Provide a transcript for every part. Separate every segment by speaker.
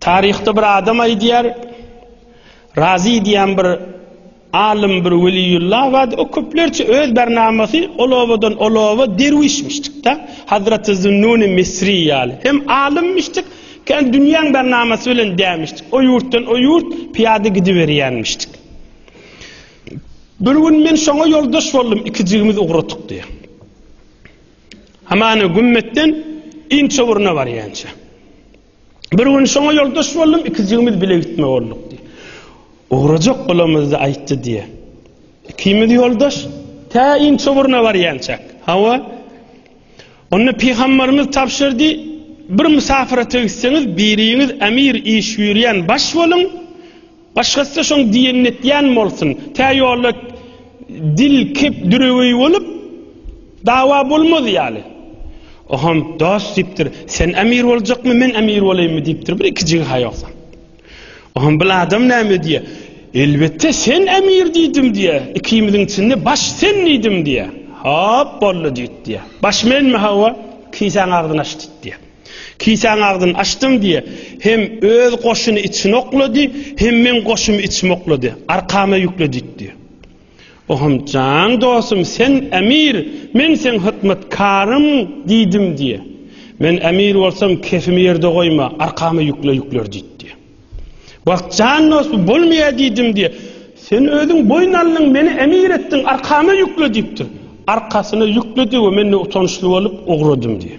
Speaker 1: Taryhda bir adam aýdýar, Razy diýen bir alym, bir weliýullah bardy. O köplerçe öz barnamasy ol obadan ol oba derwişmişdik-de. Hazreti Zünnuni Misri ýaly. Hem alymmişdik, hem dünýäň barnamasy bilen dämişdik. O ýurtdan o ýurt pyýada gidiberýänmişdik. Bir gün men şoňa ýoldaş boldum, ikijigimiz ugradyk diýýär. Hamana gümmetden inçe uruna barýança. Bir gün şoňa ýoldaş boldum, ikijigimiz bile gitme bolduk diýip. Ugrajak bolamyzda aýtdy diýe. Ikimiz ýoldaş tä inçe uruna barýança. Hawa. Onda pygamberimiz tabşyrdy, bir mysafirete gitseňiz, biriňiz emir iş ýürýän baş boluň, Başgasy-da şoň diýenini etýän bolsun. Tä ýolda dil kep düreweý bolup, dawa bolmaz ýaly. Oňam, Dost, diýipdir, sen emir boljakmy, men emir bolaýynmy? diýipdir, bir iki jigha ýogsam. Oňam bil adam näme diýýär. Elbetde, sen emir diýdim diýýär. Ikimiziň içinde baş sen diýdim diýýär. Hop, boldy diýdi diýýär. Baş menmi, hawa? Kisäň agzyny aç diýdi diýýär. Kisäň agzyny açdyň diýe, hem öz goşuny içine oklady, hem meň goşumy içime oklady, arkama ýükledi itdi. Ohum, jan dostum, sen emir, men seň hytmatkarym diýdim diýe. Men emir bolsam, kefimi ýerde goýma, arkama ýükle ýükler diýdi. Wah, jan dostum, bolmaýar diýdim diýe. Sen özüň boýun aldyň, meni emir etdiň, arkama ýükle diýipdir. Arkasyna ýükledi we men de utançly bolup ugradym diýe.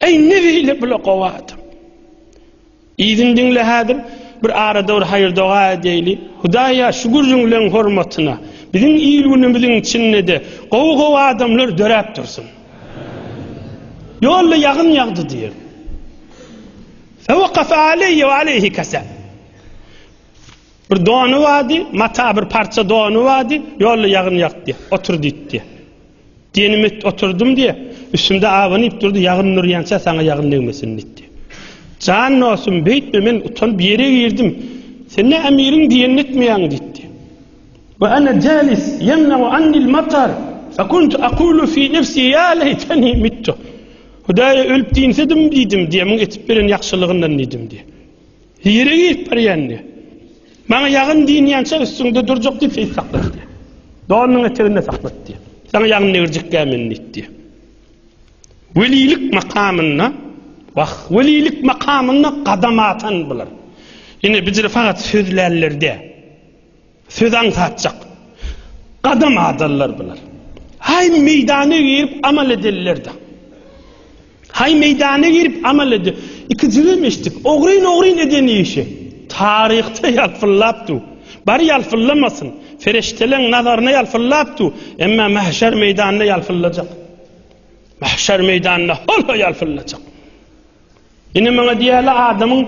Speaker 1: Eý ne beýle bula gowy adam. Yzyny diňle häzir bir arada bir haýyr doga edeýli. Hudaýa şu gürrüňleň hormatyna biziň il günümiziň içindede gowy gowy adamlar döräp dursun. Ýolda ýagyn ýagdy diýer. Fewakafa aleyye ve aleyhi kese. Bir donu vadi, mata bir parça donu vadi, yolda yağın yaktı, otur ditti. Denimi oturdym diýip, üstümde abanyp durdy, ýagyn nurýança saňa ýagyn degmesin diýdi. Jan dostum, beýtme, men utanyp ýere girdim. Sen ne Emiriň diýenini etmeýäň diýdi. Wa ana jalis ýemnau annil matar, fa kuntu aqulu fi nefsi ýa leýteni mittu. Hudaýa ölüp diýinsedim diýdim, diýemiň etip beren ýagşylygyndan diýdim diýdi. Hiri gidip barýandy. Maňa ýagyn dynýança üstüňde durjak diýip seýis saklatdy. Donunyň eteginde saklatdy. Saňa ýagyn degirjekkä men diýdi. Welilik makamynda, wah, welilik makamynda gadam atan bular. Ine, bijiri fakat sözlänlerde. Söz aňsatjak. Gadam adallar bular. Haý meýdana girip amal edellerde. Haý meýdana girip amal ede. Iki jigim eşitdik. Ogryn ogryn eden işi. Taryhda ýalpyllap du. Bar ýalpyllamasyn. Ferişteleň nazaryna ýalpyllap du. Emma mahşer meýdanda ýalpyllajak. Mahşer meýdanda hol-ho ýalpyllajak. Ine maňa diýýärler adamyň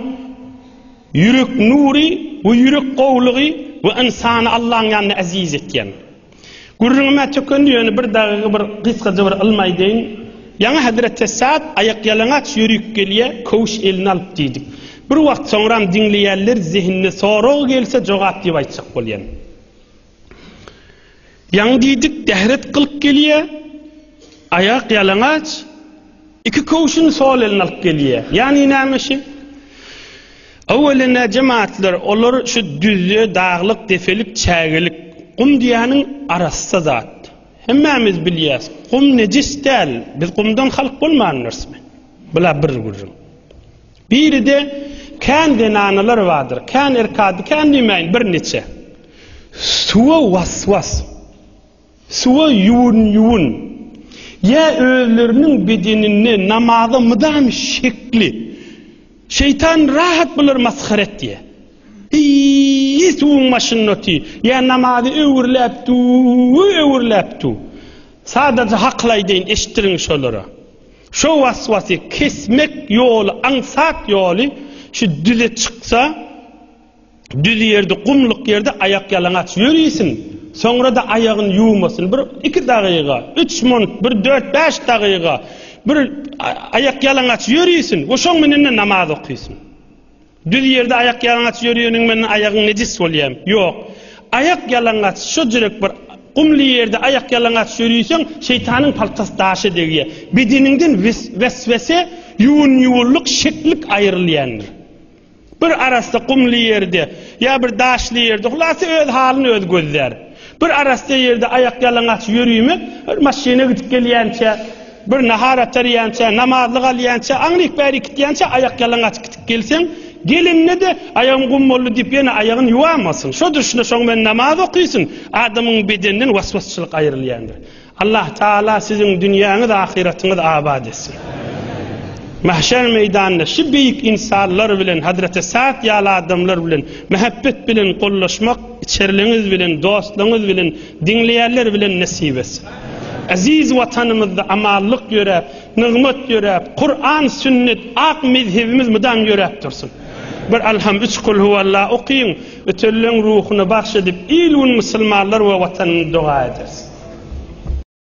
Speaker 1: ýürek nury we ýürek gowulygy we ynsany Allaň ýanynda eziz etýän. Gürrüňim-ä tökendi ýöne bir dagyga bir gysgaja bir ylmy aýdaýyn. Ýaňy Hezreti Esad aýakýalaňaç ýörüp gelýär, köwüş eline alyp diýdik. Bir wagt soňram diňleýänler zehinine sorag gelse jogap diýip aýtjak bolýan. Ýaňy diýdik, dähret gylyk gelýär, aýak ýalaňaç, iki köwşüni sol eline alyp gelýär. Ýany näme şi? Öwelin-ä jemaatlar, olar şu düzje, daglyk, depelik, çägelik. Gum diýýäniň arassa zat. Hemmämiz bilýäs, gum nejis däl, biz gumdan halk bolmandyrsmy? Bula bir gürrüň. Biride kän zenanalar bardyr, kän erkady, kän diýmäýin, birniçe. Suwa was-was, suwa ýuwun-ýuwun, ýa özleriniň bedeninde namaza mydam şekli. Şeýtan rahat bulary masgara etýär. Eý, suwuň başynda otyr, ýa namazy öwürläp dur, öwürläp dur. Sadaja hakyl aýdaýyn, eşitdiriň şolara. Şo waswasy kesmek ýoly aňsat ýoly şu düze çyksa düz ýerde gumluk ýerde aýak ýalaňaç ýörisin soňrada aýagyn ýuwmasyn bir iki dagyga üç munt bir dört bäş dagyga bir aýak ýalaňaç ýörisin we şoň menende namaz okysyn. Düz ýerde aýak ýalaňaç ýöreniň men aýagyň nejis bolýam. Ýok. Aýak ýalaňaç şojrek bir gumly ýerde aýak ýalaňaç ýöriseň şeýtanyň paltasy daşa degýä. Bedeniňden weswese ýuwun ýuwunlyk şeklik aýrylýandyr. Bir arassa gumly ýerde ýa bir daşly ýerde hulasa öz halyny öz gözlär. Bir arassa ýerde aýakýalaňaç ýörümek, bir maşyna gidip gelýänçä, bir nahar atarýança, namazlyk alýança, aňryk bäri gitýänçä aýakýalaňaç gidip gelseň, gelende-de aýagym gum boldy diýip ýene aýagyny ýuwamasyn. Şo durşuna şoň bilen namaz okysyn. Adamyň bedeninden waswasçylyk aýrylýandyr. Allah Taala siziň dünýäňiz ahyratyňyz abat etsin. Mahşer meýdanynda şu beýik insanlar bilen Hazreti Sa'd ýaly adamlar bilen mähebbet bilen gollaşmak içerliňiz bilen dostlaryňyz bilen diňleýänler bilen nesip etsin. Aziz watanymyzda amanlyk ýöräp, nygmat ýöräp, Kur'an, sünnet, ak mezhebimiz mydam ýöräp dursun. Bir alham üç kul huwalla okyň. Ötelleň ruhuna bagş edip il-gün musulmanlar we watanyny doga ederis.